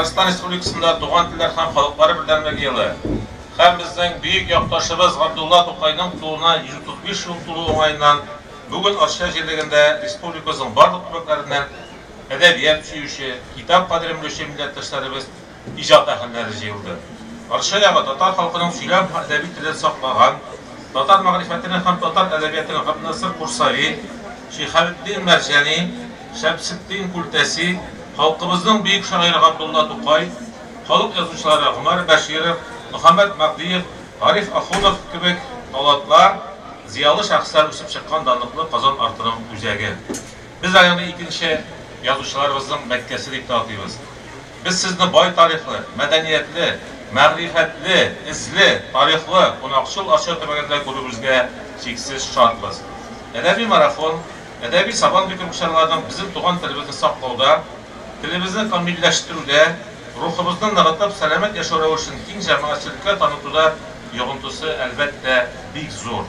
Татарстан Республикасында Туган телләр һәм халыклары бердәмлеге елы һәм безнең бөек якташыбыз Габдулла Тукайның тууына 135 ел тулу уңаеннан бүген Арча җирлегендә республикабызның барлык төбәкләреннән әдәбият сөюче, китап кадерен белүче милләттәшләребез иҗат әһелләре җыелды. Арча ягы татар халкының сөйләм һәм әдәби телен саклаган, татар мәгърифәтенең һәм татар әдәбиятының Габднасыр Курсави, Шиһабетдин Мәрҗани, Шәмсетдин Күлтәси, халкыбызның бөек шагыйре Габдулла Тукай, халык язучылары Гомәр Бәширов, Мөхәммәт Мәһдиев, Гариф Ахунов кебек талантлар, зыялы шәхесләр үсеп чыккан данлыклы Казан артының үзәге. Без аны икенче язучыларыбызның Мәккәсе дип тә атыйбыз. Без сезне бай тарихлы, мәдәниятле, мәгърифәтле, эзле, тарихлы Кунакчыл Арча төбәгендә күрүебезгә чиксез шатбыз. Әдәби марафон, әдәби сабан битүге чараларының безнең туган телебезне саклауда, телебезне камилләштерүдә, рухыбызны ныгытып, сәламәт яшәү рәвешен киң җәмәгатьчелеккә танытуда йогынтысы, әлбәттә, бик зур.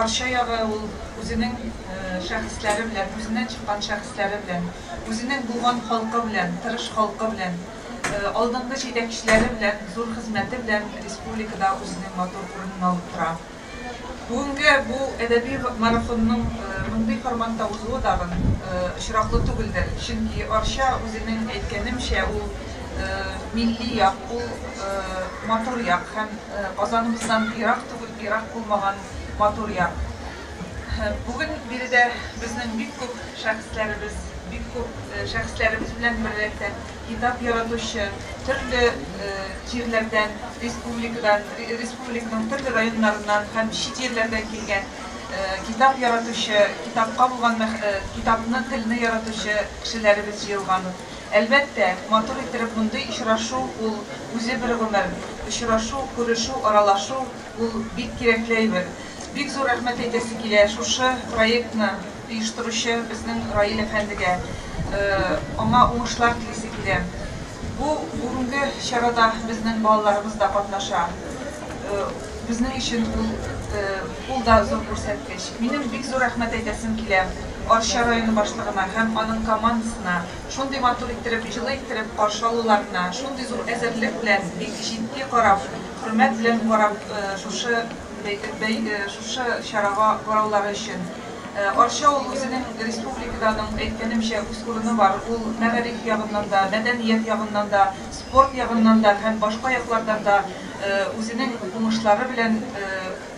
Арча ягы ул үзенең шәхесләре белән, үзеннән чыккан шәхесләре белән, үзенең булган халкы белән, тырыш халкы белән, алдынгы җитәкчеләре белән, зур хезмәте белән республикада үзенең матур урынын алып тора. Бүгенге бу әдәби марафонның мондый форматта узуы тагын очраклы түгелдер, чөнки Арча, үзенең әйткәнемчә, ул милли як, ул матур як һәм Казаныбыздан ерак күп ерак булмаган матур яр. Бүген биредә безнең бик күп шәхесләребез, бик күп шәхесләребез белән берлектә китап яратучы, төрле җирләрдән, республикадан, республиканың төрле районнарыннан һәм чит җирләрдән килгән китап яратучы, китапка булган мәх, китапны, телне яратучы кешеләребез җыелган. Әлбәттә, матур иттереп мондый очрашу ул үзе бер гомер. Очрашу, күрешү, аралашу ул бик кирәкле әйбер. Бик зур рәхмәт әйтәсе килә шушы проектны оештыручы безнең Раил әфәндегә. Аңа уңышлар телисе килә. Бу бүгенге чарада безнең балаларыбыз да катнаша. Безнең өчен ул да зур күрсәткеч. Минем бик зур рәхмәт әйтәсем килә Арча районы башлыгына һәм аның командасына, шундый матур иттереп, җылы иттереп каршы алуларына, шундый зур әзерлек белән, бик җитди карап, хөрмәт белән карап шушы чарага караулары өчен. Арча ул үзенең республикада аның әйткәнемчә үз урыны бар, ул мәгариф ягыннан да, мәдәният ягыннан да, спорт ягыннан да һәм башка яклардан да үзенең уңышлары белән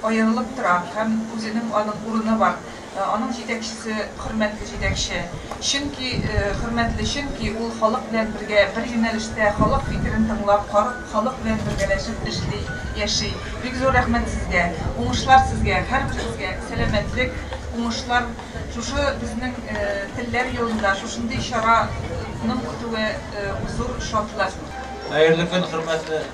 аерылып тора һәм үзенең аның урыны бар, аның җитәкчесе хөрмәтле җитәкче, чөнки хөрмәтле, чөнки ул халык белән бергә бер юнәлештә, халык фикерен тыңлап, халык белән бергәләшеп эшли, яши. Бик зур рәхмәт сезгә, уңышлар сезгә, һәрберегезгә сәламәтлек, уңышлар, шушы безнең телләр елында шушындый чара ның үтүе зур шатлык. Хәерле көн, хөрмәтле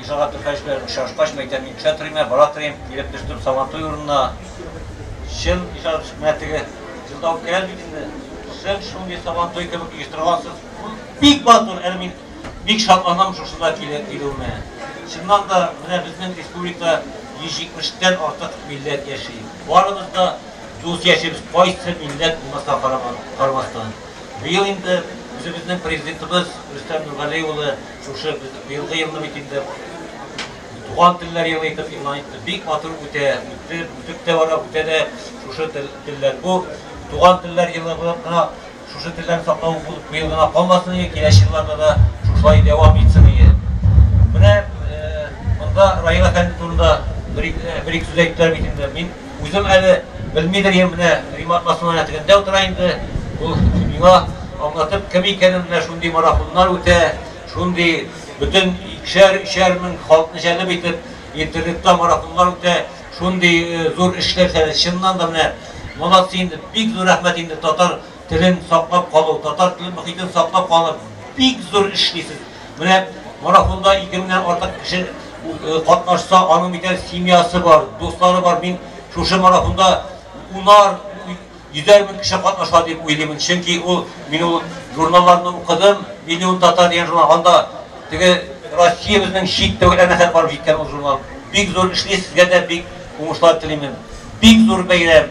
Ижара Түфәч белән очрашкач, мәйтәм, мин төшә торыйм, ә, бара торыйм. Килеп төштем Сабантуй урынына. Чын, Ижара Түфәч, менә теге җырда үткәрәм бит инде. Сез шундый Сабантуй кебек оештыргансыз. Бик матур, әле мин бик шатланам шушында килеп килүемә. Чыннан да, менә безнең республикада 170 тән артык милләт яши. Барыбыз да дус яшибез, кайсы милләт булмаска карамастан. Быел инде үзебезнең Президентыбыз Рөстәм Нургали улы Шушы без быелгы елны бит инде Туган телләр елы итеп игълан итте. Бик матур үтә, үтте, үтеп тә бара, үтә дә шушы тел, телләр. Бу Туган телләр елы булып кына шушы телләрне саклау булып быел гына калмасын иде, киләче елларда да шушылай дәвам итсен иде. Менә э, монда Раил әфәнде турында бер, бер ике сүз әйттеләр бит инде. Мин Үзем әле белмидер идем, менә Римат басманың рәтегендә утыра инде, ул миңа аңлатып кем икәнен, менә шундый марафоннар үтә, шундый бөтен икешәр, өчәр мең халыкны җәлеп итеп интернетта марафоннар үтә, шундый зур эшләр, чыннан да менә молодцы инде, бик зур рәхмәт инде татар Телен саклап калу, татар теле мохитен саклап калуда бик зур эшлисез. Менә марафонда ике меңнән артык кеше катнашса, аның бит әле семьясы бар, дуслары бар. Мин шушы марафонда унар, йөзәр мең кеше катнаша дип уйлыймын. Чөнки ул мин ул журналларны укыдым, Миллион татар дигән журнал, анда теге Россиябезнең чит төбәкләренә хәтта барып җиткән ул журнал. Бик зур эшли, сезгә дә бик уңышлар телимен. Бик зур бәйрәм.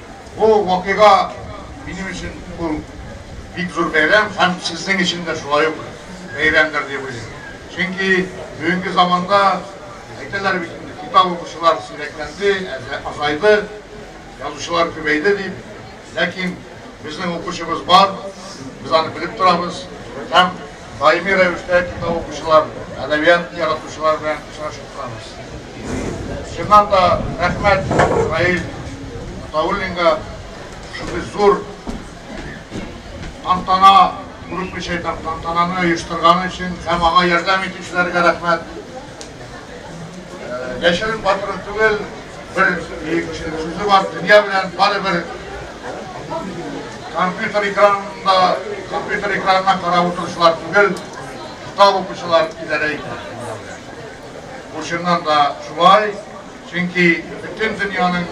Бу вакыйга минем өчен ул бик зур бәйрәм һәм сезнең өчен дә шулай ук бәйрәмдер дип уйлыйм. Чөнки бүгенге заманда, әйтәләр бит инде, китап укучылар сирәкләнде, азайды, язучылар күбәйде дип. Ләкин безнең укучыбыз бар, без аны белеп торабыз һәм. даими рәвештә китап укучылар, әдәбият яратучылар белән очрашып торабыз. Чыннан да рәхмәт Раил Атауллинга шундый зур тантана, күренмичә әйтәм, тантананы оештырганы өчен һәм аңа ярдәм итүчеләргә рәхмәт. Яшерен батыры түгел, бер сүзе бар, дөнья белән бары бер компьютер экранында, компьютер экранына карап отырышылар түгел, китап укучылар идарә итә. Бу чыннан да шулай, чөнки бөтен дөньяның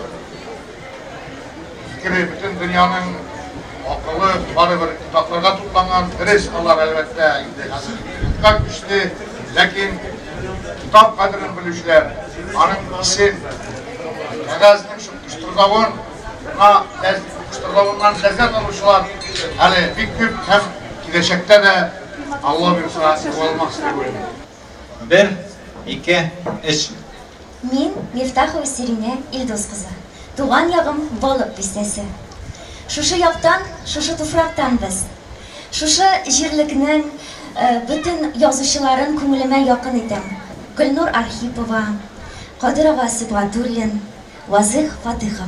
Фикере бөтен дөньяның акылы барыбер китапларга тупланган. Дөрес, алар, әлбәттә, инде хәзер интернетка күчте. Ләкин китап кадерен белүчеләр аның исен, кәгазьнең шупкыштырдавын, миңа кыштырдавыннан ләззәт алучылар әле бик күп һәм киләчәктә дә Алла бирса югалмас дип уйлыйм. Бер, ике, өч. Мин, Мифтахова Сиринә Илдус кызы. Туган ягым Балык Бистәсе. Шушы яктан, шушы туфрактан без. Шушы җирлекнең бөтен язучыларын күңелемә якын итәм. Гөлнур Архипова, Кадыр ага Сибгатуллин, Вазыйх Фатыйхов.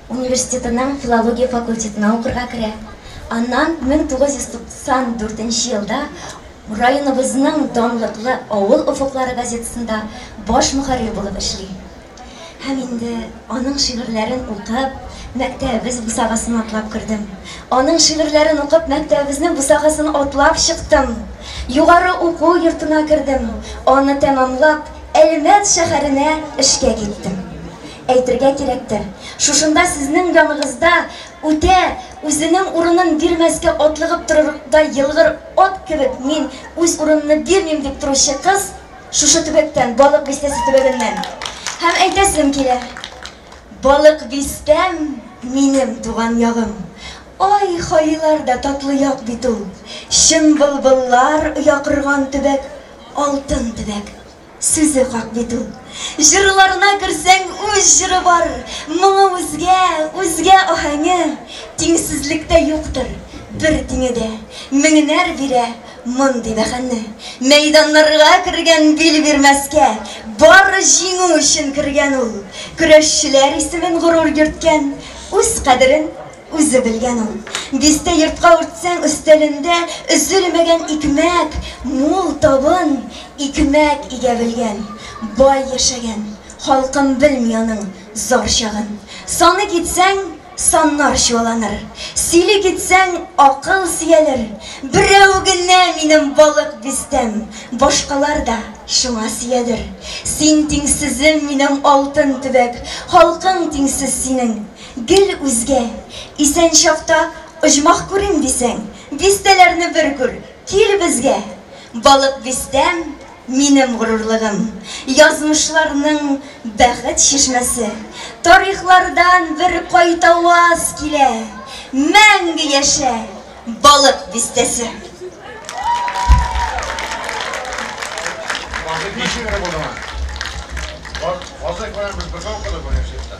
университетының филология факультетына укырга керә. Аннан 1994 нче елда районыбызның данлыклы Авыл офыклары газетасында баш мөхәррир булып эшли. Һәм инде аның шигырьләрен укып, мәктәбебез бусагасын атлап кердем. Аның шигырьләрен укып, мәктәбебезнең бусагасын атлап чыктым. Югары уку йортына кердем. Аны тәмамлап, Әлмәт шәһәренә эшкә киттем. Әйтергә кирәктер, шушында сезнең яныгызда үтә үзенең урынын бирмәскә атлыгып торырдай елгыр ат кебек мин үз урынымны бирмим дип торучы кыз шушы төбәктән, Балык Бистәсе төбәгеннән. Һәм әйтәсем килә, Балык Бистәм, минем туган ягым! Ай, хаилар да татлы як бит ул! Чын былбыллар оя корган төбәк, алтын төбәк! Сүзе хак бит ул. Җырларына керсәң, үз җыры бар, моңы үзгә, үзгә аһәңе. Тиңсезлектә юктыр бер тиңе дә, меңнәр бирә мондый бәһаны. Мәйданнарга кергән бил бирмәскә, бар җиңү өчен кергән ул. Көрәшчеләр исемен горур йөрткән, үз кадерен Үзе белгән ул. Дистә йортка үртсәң, өстәлендә өзелмәгән икмәк, мул табын, икмәк игә белгән. Бай яшәгән. Халкым белми аның зар чагын. Саный китсәң, саннар чуаланыр. Сөйли китсәң, акыл сөялер. Берәү генә минем балык бистәм, башкалар да шуңа сөядер. Син тиңсезем, минем алтын төбәк, халкың тиңсез синең. Гел үзгә, исән чакта оҗмах күрим дисәң, бистәләрне бер күр, кил безгә! Балык бистәм, минем горурлыгым, язмышларның бәхет чишмәсе. Тарихлардан бер кайтаваз килә, мәңге яшә, Балык бистәсе! Вазыйх ничек булдыңа? Вазыйх белән без бергә укыдык университетта.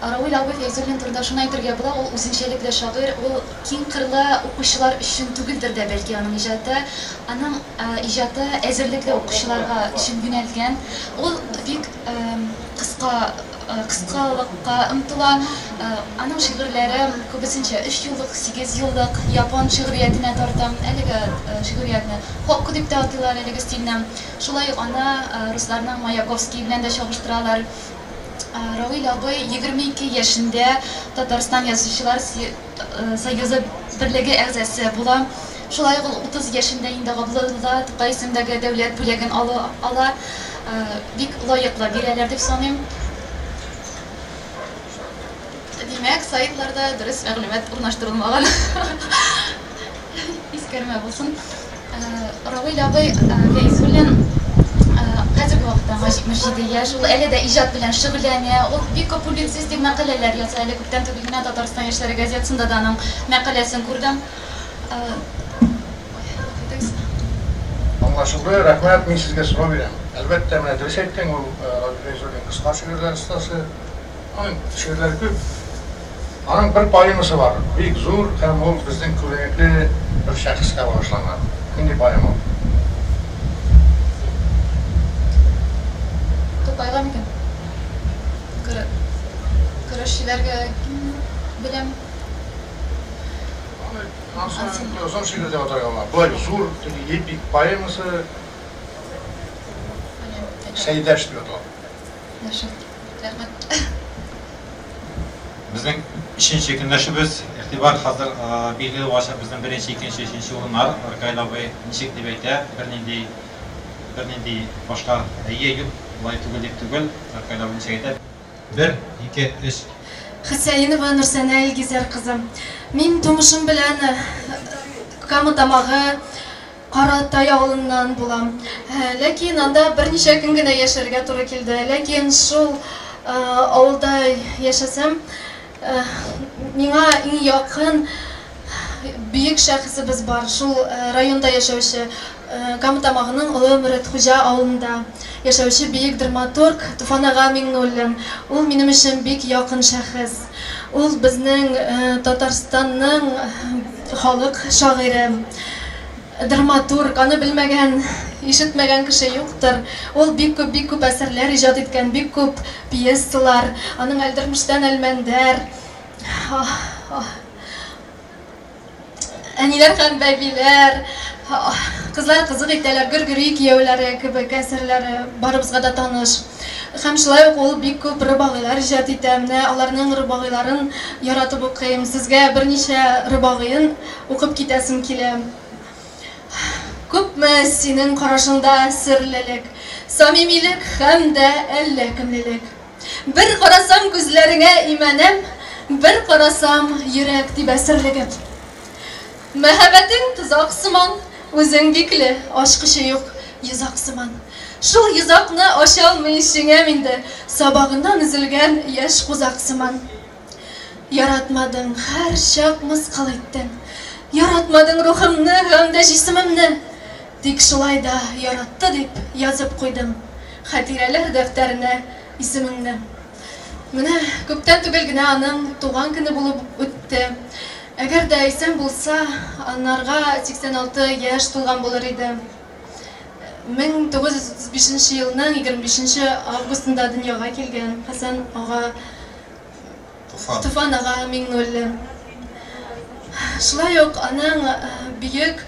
Равил абый Фәйзуллин турында шуны әйтергә була, ул үзенчәлекле шагыйрь, ул киңкырлы укучылар өчен түгелдер дә бәлки аның иҗаты. Аның иҗаты әзерлекле укучыларга өчен юнәлгән. Ул бик кыска, кыскалыкка омтыла. Аның шигырьләре күбесенчә өчьюллык, сигезьюллык, япон шигъриятенә тарта. Әлеге шигъриятне хокку дип тә атыйлар, әлеге стильне. Шулай ук аны русларның Маяковский белән дә чагыштыралар. Равил абый 22 яшендә Татарстан Язучылар союзы берлеге әгъзасы була. Шулай ук ул 30 яшендә инде Габдулла Тукай исемендәге дәүләт бүләген ала. Бик лаеклы бирәләр дип саныйм. Димәк, сайтларда дөрес мәгълүмат урнаштырылмаган. Искәрмә булсын. Равил абый Фәйзуллин хәзерге вакытта аңа 77 яшь, ул әле дә иҗат белән шөгыльләнә. Ул бик күп публицистик мәкаләләр яза. Әле күптән түгел генә Татарстан яшьләре газетасында да аның мәкаләсен күрдем. Аңлашылды, рәхмәт. Мин сезгә сорау бирәм. Әлбәттә, менә дөрес әйттең, ул Равил Фәйзуллин кыска шигырьләр остасы. Аның шигырьләре күп. Аның бер поэмасы бар, бик зур һәм ул безнең күренекле бер шәхескә багышланган. Нинди поэма ул? Тукайга микән? Көрә, көрәшчеләргә беләм. Аны Ансың озын шигырь дип атарга була. Болай зур теге эпик поэмасы Сәйдәш дип атала. Яхшы. Рәхмәт. Безнең өченче көнләшүбез. Игътибар, хәзер билгеле булачак безнең беренче, икенче, өченче урыннар. Ркаил абый ничек дип әйтә, бернинди, бернинди башка әйе, юк, болай түгел дип түгел. Ркаил абый ничек әйтә. Бер, ике, өч. Хөсәенова Нурсәнә Илгизәр кызы. Мин тумышым белән Кама Тамагы Каратай авылыннан булам. Ләкин анда берничә көн генә яшәргә туры килде. Ләкин шул авылда яшәсәм, миңа иң якын бөек шәхесебез бар, шул районда яшәүче, Кама Тамагының Олы Мөретхуҗа авылында яшәүче бөек драматург Туфан ага Миңнуллин. Ул минем өчен бик якын шәхес. Ул безнең Татарстанның халык шагыйре, драматург. Аны белмәгән, ишетмәгән кеше юктыр. Ул бик күп, бик күп әсәрләр иҗат иткән, бик күп пьесалар. Аның Әлдермештән Әлмәндәр, Әниләр һәм бәбиләр, кызлар кызык итәләр, гөргери кияүләре кебек әсәрләре барыбызга да таныш. Һәм шулай ук ул бик күп рыбагыйлар иҗат итә. Менә аларның рыбагыйларын яратып укыйм. Сезгә берничә рыбагыен укып китәсем килә. Күпме синең карашыңда серлелек, самимилек һәм дә әллә кемлелек. Бер карасам күзләреңә имәнәм, Бер карасам йөрәк тибә серлегеп. Мәһәбәтең тозак сыман, Үзең бикле, ачкычы юк йозак сыман. Шул йозакны ачалмый җиңәм инде, Сабагыннан өзелгән яшь кузак сыман. Яратмадың, һәр чак мыскыл иттең. Яратмадың рухымны һәм дә җисемемне. Тик шулай да яратты дип язып куйдым хәтирәләр дәфтәренә исемеңне. Менә күптән түгел генә аның туган көне булып үтте. Әгәр дә исән булса, анарга 86 яшь тулган булыр иде. 1935 елның 25 августында дөньяга килгән Хәсән ага Туфан. Туфан ага Миңнуллин. Шулай ук аның бөек,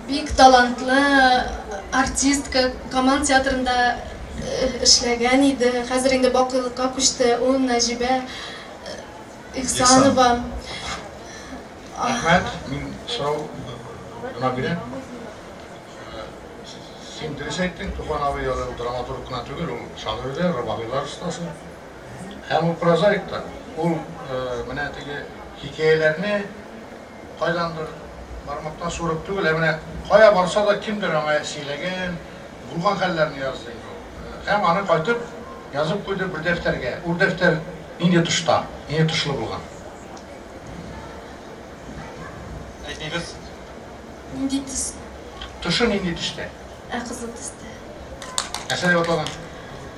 бик талантлы артистка, Камал театрында эшләгән иде, хәзер инде бакыйлыкка күчте, ул Нәҗибә Ихсанова. Рәхмәт, мин сорау гына бирәм. Син дөрес әйттең, Туфан абый драматург кына түгел, ул шагыйрь дә, рубагыйлар остасы. Һәм ул прозаик та. Ул менә теге хикәяләрне кайдандыр бармактан суырып түгел, ә менә кая барса да кемдер аңа сөйләгән, булган хәлләрне язды инде ул. Һәм аны кайтып язып куйды бер дәфтәргә. Ул дәфтәр нинди тышта, нинди тышлы булган? Әйтегез. Нинди төс? Тышы нинди төстә? Ә кызыл төстә. Нәрсә дип аталган?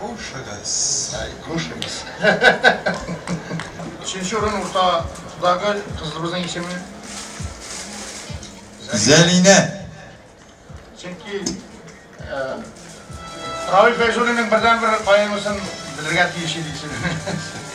Кушыгыз. Ай, кушыгыз. Өченче урын уртадагы кызыбызның исеме Зәлинә. Чөнки Равил Фәйзуллинның бердәнбер поэмасын белергә тиеш идек сез.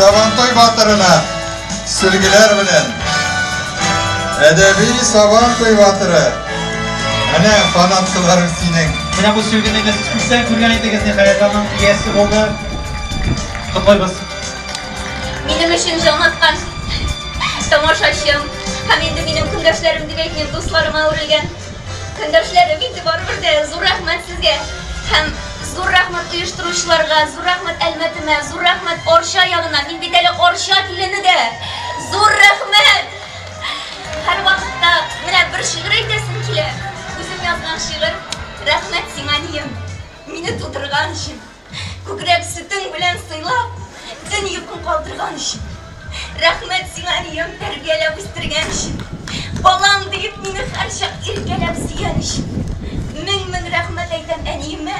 Сабантуй батырына сөлгеләр белән әдәби Сабантуй батыры. Менә фанаткаларың синең. Менә бу сөлгене без күптән күргән идегез, ниһаять аның иясе булды. Котлыйбыз. Минем өчен җан аткан тамашачым һәм инде минем көндәшләрем дип әйтмим, дусларыма әверелгән. Көндәшләрем инде барыбер дә зур рәхмәт сезгә. Һәм зур рәхмәт оештыручыларга, зур рәхмәт Әлмәтемә, зур рәхмәт Арча ягына. Мин бит әле Арча килене дә. Зур рәхмәт! Һәрвакытта менә бер шигырь әйтәсем килә. Үзем язган шигырь. Рәхмәт сиңа, Нием, мине тудырган өчен. Күкрәк сөтең белән сыйлап, төн йокың калдырган өчен. Рәхмәт сиңа, әнием, тәрбияләп үстергән өчен. Балам диеп мине һәрчак иркәләп сөйгән өчен. Мең-мең рәхмәт әйтәм әниемә,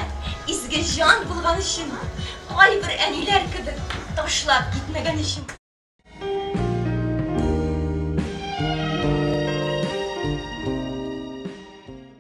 изге җан булган өчен, кайбер әниләр кебек ташлап китмәгән өчен.